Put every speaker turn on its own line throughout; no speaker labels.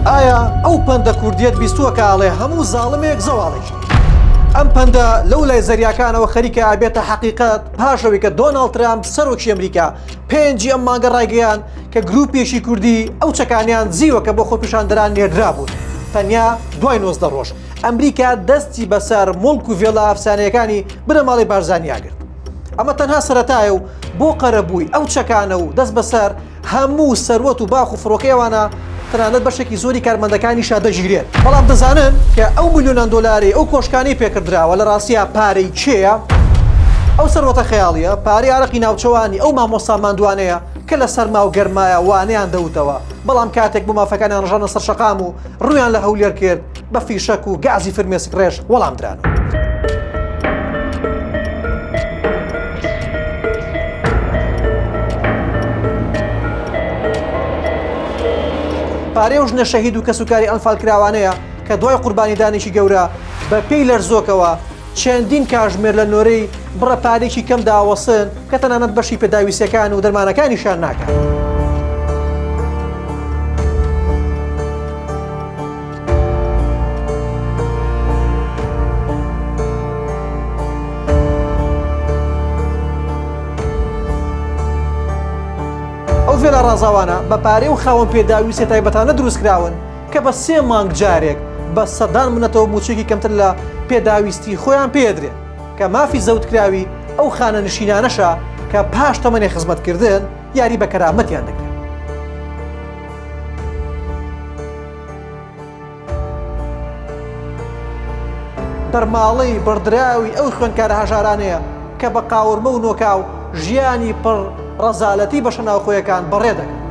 ئایا ئەو پەندە کوردیەت بیستووە کە ئەڵێ هەموو زاڵمێک زەواڵێکی؟ ئەم پەندە لەو لای زەریاکانەوە خەریکە ئەبێتە حەقیقەت پاش ئەوەی کە دۆناڵد ترامپ سەرۆکی ئەمریکا پێنجی ئەم مانگە ڕایگەیاند کە گرووپێکی کوردی ئەو چەکانەیان زیوە کە بۆ خۆپیشاندەران نێردرابوون تەنیا دوای نۆزدە ڕۆژ ئەمریکا دەستی بەسەر موڵک و ڤێلا ئەفسانەیەکانی بنەماڵەی بارزانیا گرت. ئەمە تەنها سەرەتایە و بۆ قەرەبووی ئەو چەکانە و دەست بەسەر هەموو سەروەت و باخ و فڕۆکەی ئەوانە تەنانەت بەشێکی زۆری کارمەندەکانیشە دەگیرێت، بەڵام دەزانن کە ئەو ملیۆنان دۆلارەی ئەو کۆشکانەی پێکردراوە لە ڕاستیا پارەی کێیە؟ ئەو سەروەتە خەیاڵییە پارەی ئارەقی ناوچەوانی ئەو مامۆستا ماندوانەیە کە لە سەرما و گەرمایا وانەیان دەوتەوە، بەڵام کاتێک بۆ مافەکانیان ڕژانە سەر شەقام و ڕوویان لە هەولێر کرد، بە فیشەک و گازی فرمێسک ڕێژ وەڵام درانەوە. پارەی ئەو ژنە شەهید و کەسوکاری ئەنفالکراوانەیە کە دوای قوربانیدانێکی گەورە بە پێی لەرزۆکەوە، چەندین کاژمێر لە نۆرەی بڕە پارێکی کەم داوەستن کە تەنانەت بەشی پێداویستیەکان و دەرمانەکانیشیان ناکات. ئەو ڤێلا ڕازاوانە بە پارەی و خاوەن پێداویستە تایبەتانە دروستکراون، کە بە سێ مانگ جارێک بە سەدان منەتەوە مووچەیەکی کەمتر لە پێداویستیی خۆیان پێ دەدرێت، کە مافی زەوتکراوی ئەو خانەنشینانەشە کە پاش تەمەنی خزمەتکردن یاری بە کەرامەتیان دەکرێت. بەرماڵەی بڕدراوی ئەو خوێندکارە هەژارانەیە کە بە قاورمە و نۆکاو ژیانی پڕ ڕەزالەتی بەشە ناوخۆیەکان بەڕێ دەکەن.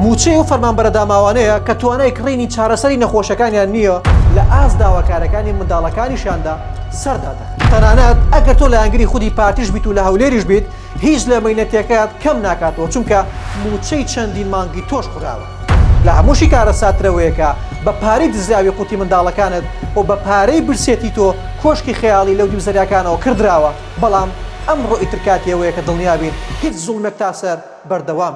موچەی و فەرمانبەرە داماوانەیە کە توانای کڕینی چارەسەری نەخۆشەکانیان نییە لە ئاست داواکارەکانی منداڵەکانیشاندا سەردادە تەنانەت ئەگەر تۆ لایەنگری خودی پارتیش بیت و لە هەولێریش بیت هیچ لە مەینەتەکەت کەم ناکاتەوە چونکە موچەی چەندین مانگی تۆش خوراوە. لە هەمووشی کارەساترەوەیەکە بە پارەی دزراوی قوتی منداڵەکانت و بە پارەی برسێتی تۆ کۆشکی خەیاڵی لەودیو زەریاکانەوە کڕدراوە بەڵام ئەمڕۆ ئیتر کاتی ئەوەیە کە دڵنیابین هیچ زوڵمێک تاسەر بەردەوام